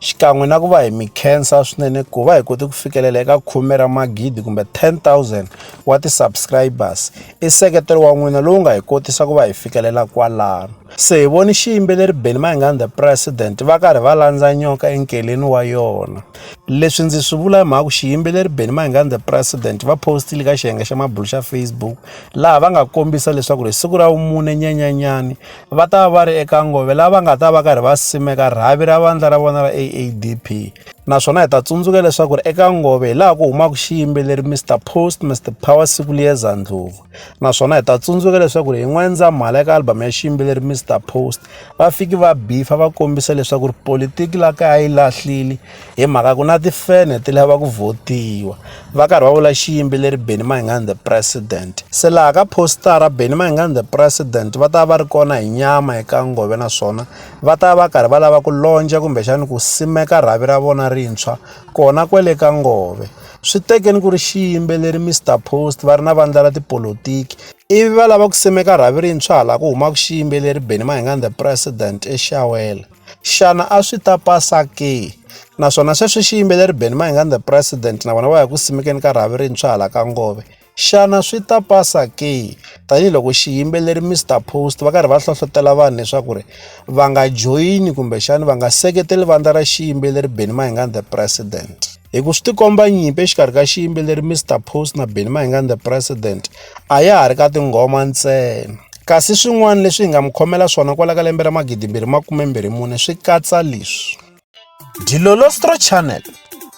xikan'we na ku va hi mi khensa swinene ku va hi kote ku fikelela eka khume ra magidi kumbe 10000 wa ti-subscribers i seketelo wa n'wina lowu nga hi kotisa ku va hi fikelela kwalano se hi voni xiyimbeleri beni mayingani the president va karhi va landza nyoka enkeleni wa yona leswi ndzi swi vula hi mhaka ku xiyimbeleri beni mayingani the president va postile ka xiyenge xa mabulu xa facebook laha va nga kombisa leswaku ri siku ra vumune nyenyanyani va ta va ri eka ngove lava nga ta va karhi va simeka rhavi ra vandla ra vona ra AADP naswona hi ta tsundzuka leswaku ri eka ngove hi laha ku humaka xiyimbeleri Mr Post Mr Power siku liyeza ndlovu naswona hi ta tsundzuka leswaku ri hi n'wendzamhala eka album ya xiyimbeleri Mr Post va fiki va bifa va kombisa leswaku ri politiki la kaya yi lahlile hi mhaka ku na tifene ti lava ku vhotiwa va karhi va vula xiyimbeleri benny mayingani the president se laha ka postara benny mayingani the president va ta va ri kona hi nyama eka ngove naswona va ta va karhi va lava ku lonja kumbexani ku simeka rhavi ra vona rintshwa kona kwele ka ngove swi tekeni ku ri xiyimbeleri mr post va ri na vandla ra tipolotiki ivi va lava ku simeka rhavi rintshwa hala ku humaka xiyimbeleri benny mayingani the president exawela xana a swi ta pasa ke naswona sweswi xiyimbeleri Benny Mayengani the president na vona va ya ku simekeni ka rhavi rintshwa hala ka ngove xana swi ta pasa ke tanihiloko xiyimbeleri Mr Post va karhi va hlohlotela vanhu leswaku ri va nga joyini kumbexani va nga seketeli vandla ra xiyimbeleri Benny Mayengani the president. hi ku swi tikomba nyimpi exikarhi ka xiyimbeleri mr post na benny mahingani the president a ya ha ri ka tinghoma ntsena kasi swin'wana leswi hi nga mi khomela swona kwala ka lembe ra magidimbirhi makumembirhi mune swi katsa leswi dilolostro channel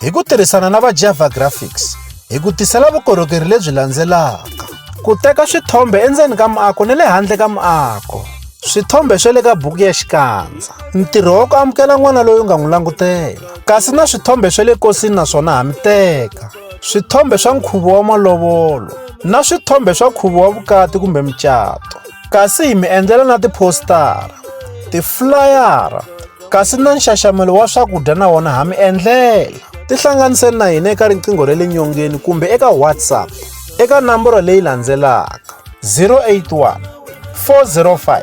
hi ku tirhisana na va java graphics hi ku tisela vukorhokeri lebyi landzelaka ku teka swithombe endzeni ka muako ni le handle ka muako swithombe swa le ka buku ya xikandza ntirho wa ku amukela n'wana loyi u nga n'wi langutela kasi na swithombe swa le kosini na swona ha mi teka swithombe swa nkhuvo wa malovolo na swithombe swa nkhuvo wa vukati kumbe mucato kasi hi mi endlela na tiphostara tiflayara kasi na nxaxamelo wa swakudya na wona ha mi endlela tihlanganiseni na hina eka riqingho ra le nyongeni kumbe eka whatsapp eka namboro leyi landzelaka 081 405